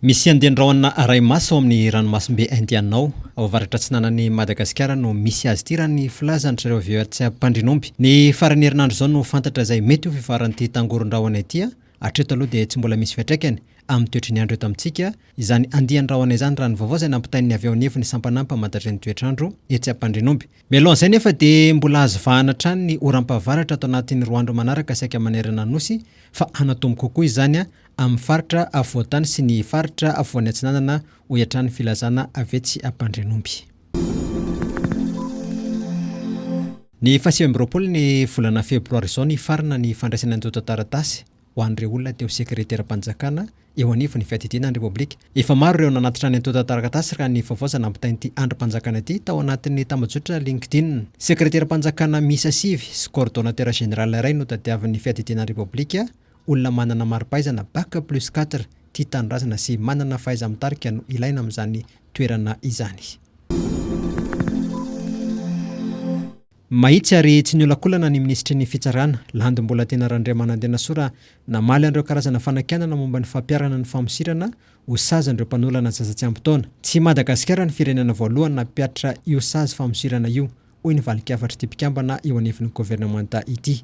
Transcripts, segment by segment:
Misy andian-drahona aray maso ao amin'ny ranomasimbe Indiana ao, ao avaratra-atsinanan'i Madagasikara no misy azy ity raha ny filazan-dry zareo VOH mpandrinomby. Ny faran'ny herinandro izao no fantatra izay mety ho fivoaran'ity tangoron-drahona ity. Hatreto aloha dia tsy mbola misy fiatraikany amin'ny toetry ny andro eto amintsika izany andian-drahona izany raha ny vaovao izay nampitain'ny avy ao anivon'ny sampanà mpamadadry ny toetr'andro etsy Ampandrinomby. Mialoha an'izay nefa dia mbola azo vahana hatrany ny oram-pahavaratra ato anatin'ny roa andro manaraka saika manerana ny Nosy fa hanatombo kokoa izany amin'ny faritra afovoan-tany sy ny faritra afovoany atsinanana, hoy hatrany ny filazana avy etsy Ampandrianomby. Ny fahasivy amby roapolo ny volana febroary izao nifarana ny fandraisana antontan-taratasy ho an'ireo olona teo Sekreteram-panjakana eo anivon'ny Fiadidiana ny Repoblika. Efa maro ireo nanatitra ny antontan-taratasy raha ny vaovao izay nampitain'ity andrim-panjakana ity tao anatin'ny tambajotra LinkedIn. Sekreteram-panjakana miisa sivy sy Coordonnateur général iray no tadiavin'ny Fiadidiana ny Repoblika Olona manana maripaizana bac plus quatre tia tanindrazana sy manana fahaiza-mitarika no ilaina amin'izany toerana izany. Mahitsy ary tsy niolakolana ny minisitry ny Fitsarana, Landy Mbolantena Randriamanandenasoa raha namaly an'ireo karazana fanakianana momba ny fampiharana ny famosirana ho sazy an'ireo mpanolana zaza tsy ampy taona. Tsy i Madagasikara ny firenena voalohany nampihatra io sazy famosirana io, hoy ny valin-kafatr'ity mpikambana eo anivon'ny governemanta ity.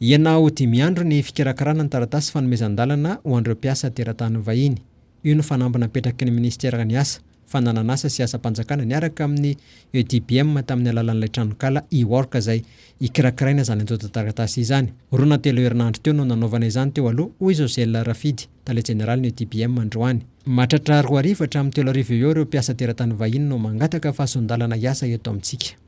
Ianao dimy andro ny fikarakarana ny taratasy fanomezan-dalana ho an'ireo mpiasa teratany vahiny. Io no fanamby napetraky ny minisitera ny asa, fananan'asa sy asam-panjakana niaraka amin'ny EDBM tamin'ny alalan'ilay tranonkala e-work izay ikarakaraina izany antontan-taratasy izany. Roa na telo herinandro teo no nanaovana izany teo aloha, hoy Josel Rafidy, tale jeneralin'ny EDBM androany. Mahatratra roa arivo hatramin'ny telo arivo eo ho eo ireo mpiasa teratany vahiny no mangataka fahasoan-dalana hiasa eto amintsika.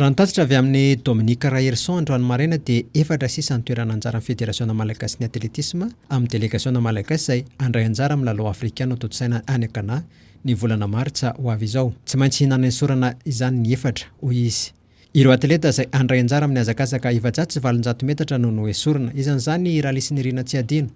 Raha ny tatitra avy amin'i Dominique Raherison androany maraina dia efatra sisa ny toerana anjaran'ny Federasiona malagasin'ny atletisma amin'ny delegasiona malagasy izay handray anjara amin'ny lalao afrikana tontosaina any Ghana ny volana martsa ho avy izao. Tsy maintsy nanesorana izany ny efatra, hoy izy. Ireo atleta izay handray anjara amin'ny hazakazaka efajato sy valonjato metatra no noesorina. Isan'izany i Ralys Nirina Tsiadino.